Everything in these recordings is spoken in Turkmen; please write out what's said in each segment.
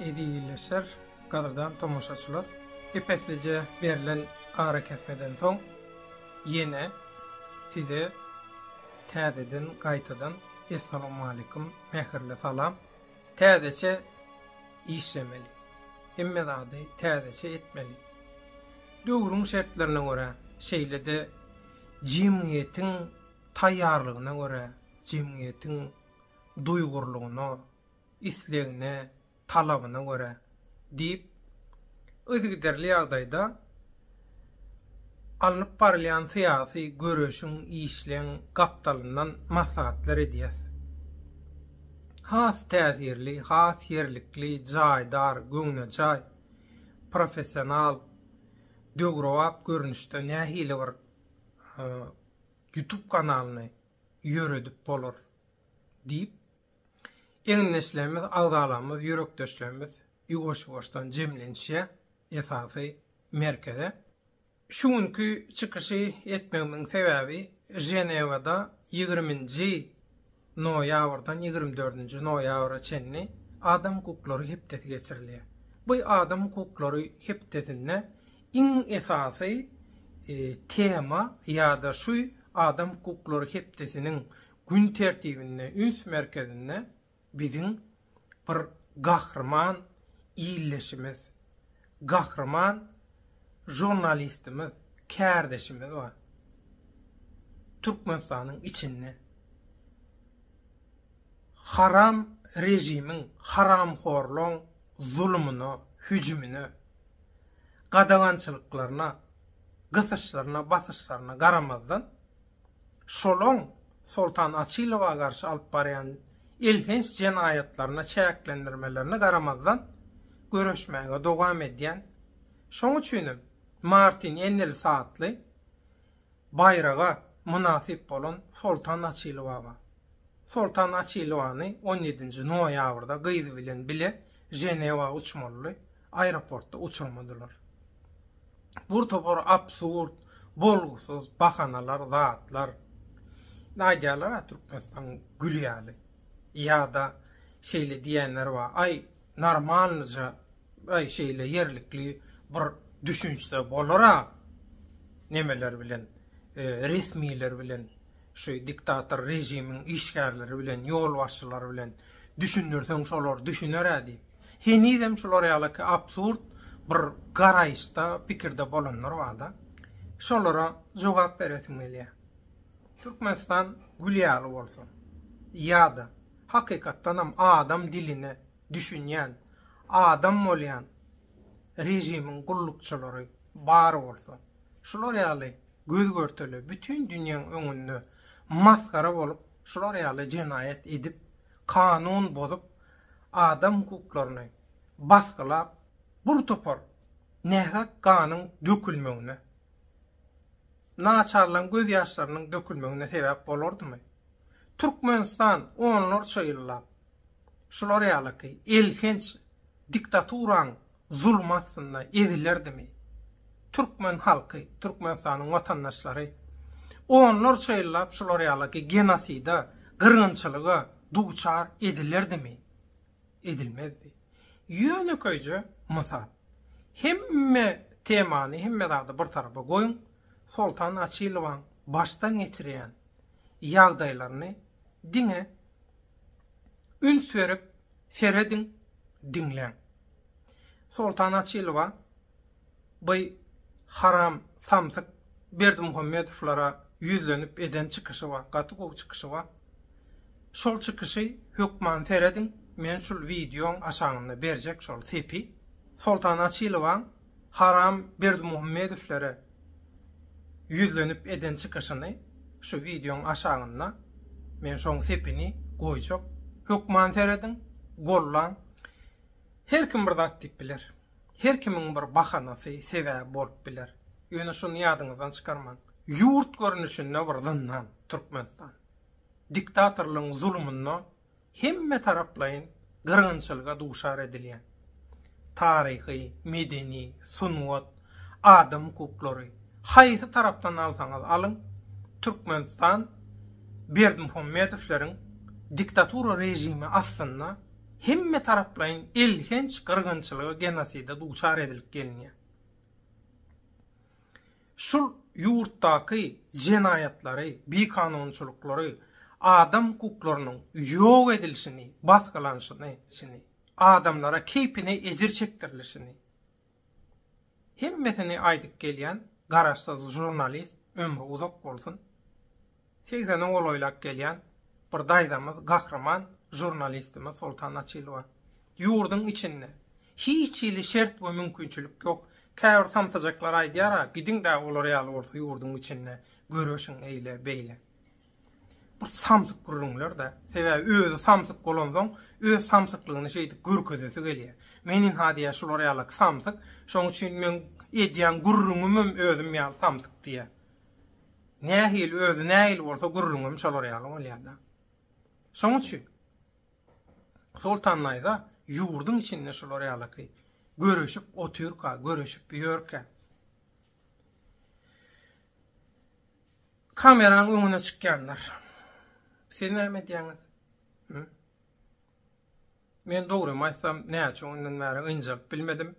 Ezizleşer gadyrdan tomaşaçylar! Epeslije berlen arakesmeden soň ýene size täzeden gaýtadan Essalamualeýkum mähirli salam! Täzeçe işlemeli. Hemme zady täzeçe etmeli. Döwrüň şertlerine görä, şeýle-de jemgyýetiň taýýarlygyna görä, jemgyýetiň duýgurlygyna, islegine, talabyna görä, diýip, yzygiderli ýagdaýda alnyp barylýan syýasy göreşiň, işleň gapdalyndan maslahatlar edýäs. Has täsirli, has ýerlikli, jaýdar, göwnejaý, professional, döwrebap görnüşde nähili bir YouTube kanalyny ýöredip bolar? diýip, Egindeşlerimiz, agzalarymyz, ýürekdeşlerimiz ýuwaş-ýuwaşdan jemlenişýär esasy merkeze. Şu günki çykyşy etmegimiň sebäbi Ženewada ýigriminji noýabrdan ýigrimi dördünji noýabra çenli Adam hukuklary hepdesi geçirilýär. Bu Adam hukuklary hepdesinde iň esasy tema ýa-da şu Adam hukuklary hepdesiniň Gün tertibinde üns merkezinde biziň bir gahryman ildeşimiz, gahryman žurnalistimiz, kärdeşimiz bar. Türkmenistanyň içinde haram režimiň, haramhorlaryň zulumyna, hüjümine, gadagançylyklaryna, gysyşlaryna, basyşlaryna garamazdan, Şoloň Soltan Açylowa garşy alyp barýan elhenç jenaýatlaryna çäklendirmelerine garamazdan, göreşmäge dowam edýän, şoň üçinem Martin Enels atly baýraga mynasyp bolan Soltan Açylowa bar. Soltan Açylowany on ýedinji noýabrda gyzy bilen bile Ženewa uçmaly. aeroportda uçurmadylar. Bu topar absurd, bolgusyz bahanalar, zatlar. Aýdýarlar a Türkmenistan gül ýaly. Ýa-da şeýle diýenler bar. Aý, normalnyja, aý şeýle ýerlikli bir düşünçde bolar-a. Nemeler bilen, e, resmiler bilen Şu diktator režimiň işgärleri bilen ýolbaşçylary bilen düşündirseň şolar düşünerä diýip. Henizem şular ýaly ki absurd bir garaýyşda pikirde bolanlar barda. Şolara jogap beresim gelýär. Türkmenistan gül ýaly bolsun. Ýada hakykatdanam adam diline düşünýän, adam bolýan režimiň gullukçylary bar bolsa. Şular ýaly göz-görtele bütin dünýäň öňünde masgara bolup, şular ýaly jenaýat edip, kanun bozup, adam hukuklaryny basgylap, bir topar nähak ganyň dökülmegine, naçarlaryň gözýaşlarynyň dökülmegine sebäp bolardymy? Türkmenistan onlarça ýyllap şular ýalyky elhenç diktaturaň zulum astynda ezilerdimi? Türkmen halky, Türkmenistanyň watandaşlary onlarça ýyllap şular ýalaky genosida, gyrgynçylyga duçar edilerdimi? Edilmezdi. Ýönekeýje mysal. Hemme temany, hemme zady bir tarapa goýuň, Soltan Açylowyň başdan geçirýän ýagdaýlaryny diňe üns berip serediň, diňläň. Soltan Açylowa by haram samsyk Berdimuhammedowlara ýüzlenip eden çykyşy bar, gaty gowy çykyşy bar. Şol çykyşy hökman serediň, men şul wideoň aşagynda berjek şol sepi. Soltan Açylowaň Haram Berdimuhammedowlere ýüzlenip eden çykyşyny şu wideoň aşagynda men şoň sepini goýjak. Hökman serediň, gollaň. Her kim bir zat diýip biler. Her kimiň bir bahanasy, sebäbi bolup biler. Ýöne şuny ýadyňyzdan çykarmaň. Ýurt görnüşinde bir zyndan Türkmenistan. Diktatorlygyň zulumynda hemmetaraplaýyn gyrgynçylyga duşar edilýän, taryhy, medeni, sungat, adam hukuklary, haýsy tarapdan alsaňyz alyň, Türkmenistan Berdimuhamedowleriň diktatura režimi astynda hemmetaraplaýyn elhenç gyrgynçylyga, genoside duçar edilip gelinýär. şol ýurtdaky jenaýatlary, bikanunçylyklary, adam hukuklarynyň ýok edilişini, basgylanyşyny, adamlara keýpine ejir çekdirilişini, hemmesini aýdyp gelýän garaşsyz žurnalist ömri uzak bolsun! Segzeniň golaýlap gelýän bir daýzamyz gahryman žurnalistimiz Soltan Açylowa, Ýurduň içinde hiç hili şert we mümkinçilik ýok. Käbir samsyjaklar aýdýar-a, gidiň-dä olar ýaly bolsa ýurduň içinde göreşiň eýle, beýle. Bir samsyk gürrüňler-dä. Sebäbi özi samsyk bolansoň, öz samsyklygyny şeýdip görkezesi gelýär. Men ynha diýýär şular ýalaky samsyk, şoň üçin meň edýän gürrüňimem özüm ýaly samsyk diýýär. Nähili özi nähili bolsa gürrüňem şolar ýaly bolýada. Şoň üçin Soltan daýza ýurduň içinde şolar ýalaky görüşip otyrka, görüşip ýörkä. Kameranyň öňüne çykýanlar. Siz näme edýäňiz? Men dogry aýtsam, näçe ondan bäri ynjap bilmedim.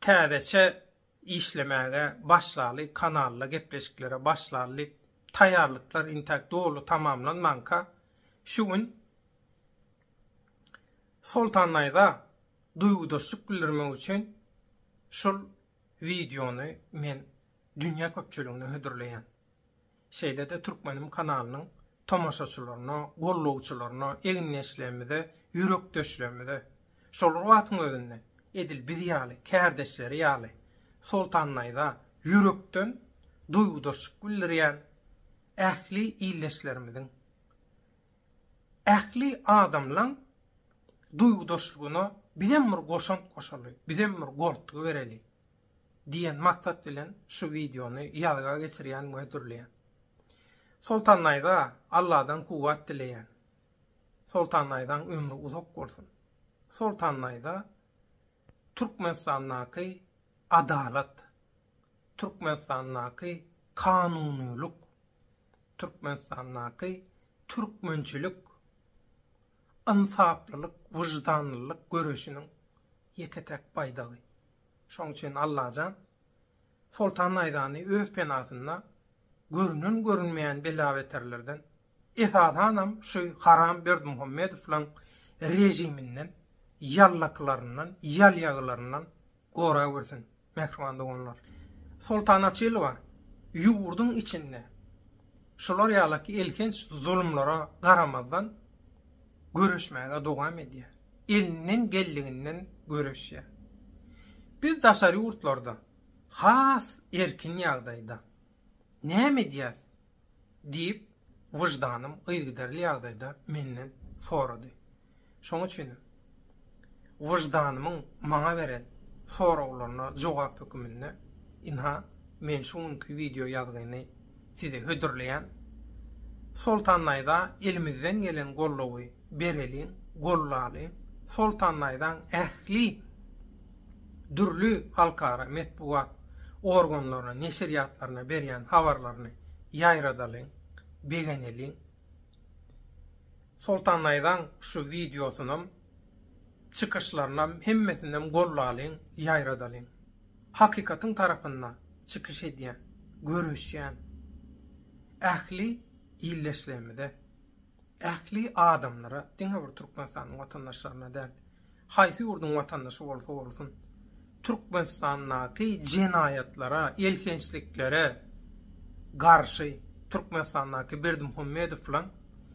Täzeçe işlemäge başlaly, kanalda gepleşiklere başlaly diýip, taýýarlyklar intäk doly tamamlanmanka, şu gün Soltan Naýza duýgudaşlyk bildirmek üçin şul wideony men dünýä köpçüligine hödürleýän. şeýle-de Türkmenim kanalynyň tomaşaçylaryna, gollawçylaryna, egindeşlerimize, ýürekdeşlerimize, şolar wagtyň özünde edil biz ýaly, kärdeşleri ýaly Soltan naýza ýürekden duýgudaşlyk bildirýän ähli ildeşlerimiziň, ähli adamlaň duýgudaşlygyna bizem bir goşant goşaly, bizem bir goltgy bereli. Diýen maksat bilen şu wideony ýazga geçirýän we dürleýän. Soltan daýza Alladan kuwwat dileýän. Soltan daýzaň ömri uzak bolsun. Soltan daýza Türkmenistandaky adalat, Türkmenistandaky kanunylyk, Türkmenistandaky türkmençilik, ynsaplylyk, wyždanlylyk göreşiniň ýeke-täk baýdagy. Şoň üçin Allajan Soltan Naýzany öz penasynda görünen-görünmeýän bela-beterlerden, esasanam şu haram Berdimuhammedowlaryň režiminden, ýallaklaryndan, ýalýagylaryndan gorawersin, mähriban doganlar! Soltana Çylowa ýurduň içinde şular ýalyki elhenç zulumlara garamazdan, göreşmäge dowam edýär, elinden geldiginden göreşýär. Biz daşary ýurtlarda has erkin ýagdaýda näme edýäs? diýip, wyždanym yzgiderli ýagdaýda menden sorady. Şonuň üçin hem. Wyždanymyň maňa beren soraglaryna jogap höküminde, ynha, men şu günki wideo ýazgyny size hödürleýän. Soltan Naýza elimizden gelen goldawy bereliň, gollalyň. Soltan Naýzaň ähli dürli halkara metbugat organlaryna, neşirýatlaryna berýän habarlaryny ýaýradalyň, begeneliň. Soltan Naýzaň şu wideosynam çykyşlarynam hemmesinem gollalyň ýaýradalyň. Hakykatyň tarapynda çykyş edýän, göreşýän ähli ildeşlerimize, ähli adamlara diňe bir Türkmenistanyň watandaşlaryna däl, Haýsy ýurduň watandaşy bolsa bolsun, Türkmenistandaky jenaýatlara, elhençliklere garşy Türkmenistandaky Berdimuhamedowyň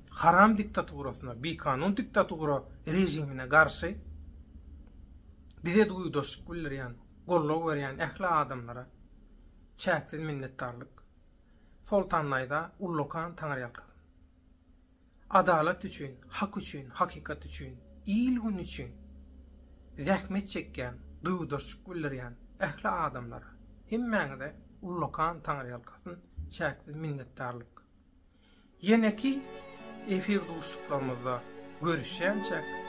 haram diktaturasyna, bikanun diktatura režimine garşy bize duýdaşlyk bildirýän, goldaw berýän ähli adamlara çäksiz minnetdarlyk. Soltandayza ullakan taňyrýalkasyn. Adalat üçin, hak üçin, hakykat üçin, il-gün üçin zähmet çekýän, duýgudaşlyk bildirýän ähli adamlara, hemmäňize ullakan Taňryýalkasyn, çäksiz minnetdarlyk. Ýeneki efir duşuşyklarymyzda görüşýänçäk!